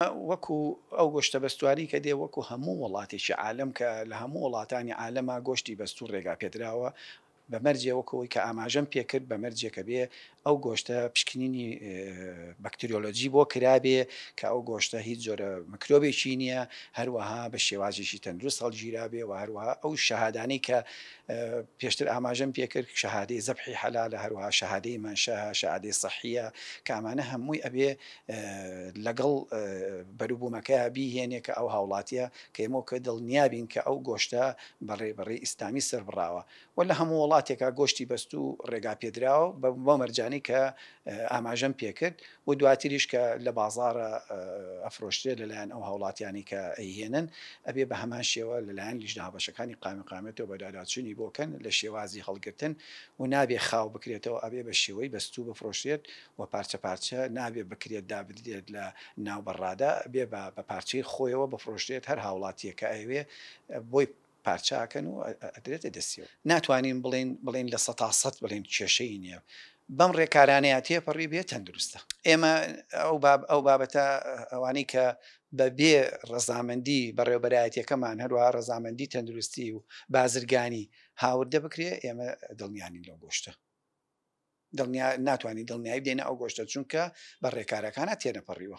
وەکو ئەو گۆشتە بەستواری کە دێ وەکو هەموو وڵاتێکی عالەم کە لە هەموو وڵاتانی عالەما گۆشتی بەستوو ڕێگا پێدراوە بە مەرجێ وەکو ئەوەی کە ئاماژەم پێ کرد بە مەرجێ کە بێ ئەو گۆشتە پشکنینی بەکتریۆلۆجی بۆ کرابێ کە ئەو گۆشتە هیچ جۆرە مکرۆبێکی نییە هەروەها بە شێوازیشی تەندروست هەڵگیرابێ و هەروەها ئەو شەهادانەی کە پێشتر ئاماژەم پێ کرد شەهادەی زەبحی حەلالە هەروەها شەهادەی مەنشە شەهادەی سەحیە کامانە هەمووی ئەبێ لەگەڵ بەروبومەکە بیهێنێ کە ئەو هاوڵاتیە کە ئێمەو کە دڵنیابین کە ئەو گۆشتە بە ڕێبەڕی ئیسلامی سڕبڕاوە وە لە هەموو وڵاتێکا گۆشتی بەستو ڕێگا پێدراوە بەو مەرجانەی کە ئاماژەم پێکرد و دواتریش کە لە بازاڕە ئەفرۆشترێ لەلایەن ئەو هاوڵاتیانی کە ئەیهێنن ئەبێ بە هەمان شێوە لەلایەن لیژنە هاوبەشەکانی قامقامێتەوە بەداداچونی بۆکەن لە شێوازی هەڵگرتن و نابێ خاو بکرێتەوە ئەبێ بە شێوەی بەستو بفرۆشرێت و پارچە پارچە نابێت بکرێت دابنرێت لە ناو بەڕادا بێ با بە پارچەی خۆیەوە بفرۆشرێت هەر هاوڵاتیەک کە ئەیەوێ بۆی پارچاکەن و ئەدرێتە دەستیەوە ناتوانین بڵێن بڵێن لە سەتا سەد بڵێن کێشەی نیە بەم ڕێکارانەیە تێپەڕی بێت تەندروستە ئێمە ئەو باب ئەو بابەتە ئەوانەی کە بە بێ ڕەزامەندی بەڕێوبەرایەتەکەمان هەروە ڕەزامەندی تەندروستی و بازرگانی هاوردە بکرێ ئێمە دڵنیانی لەو گۆشتە دڵنیا ناتوانین دڵنیایی بدەینە ئەو گۆشتە چونکە بە ڕێکارەکانە تێنەپەڕیوە.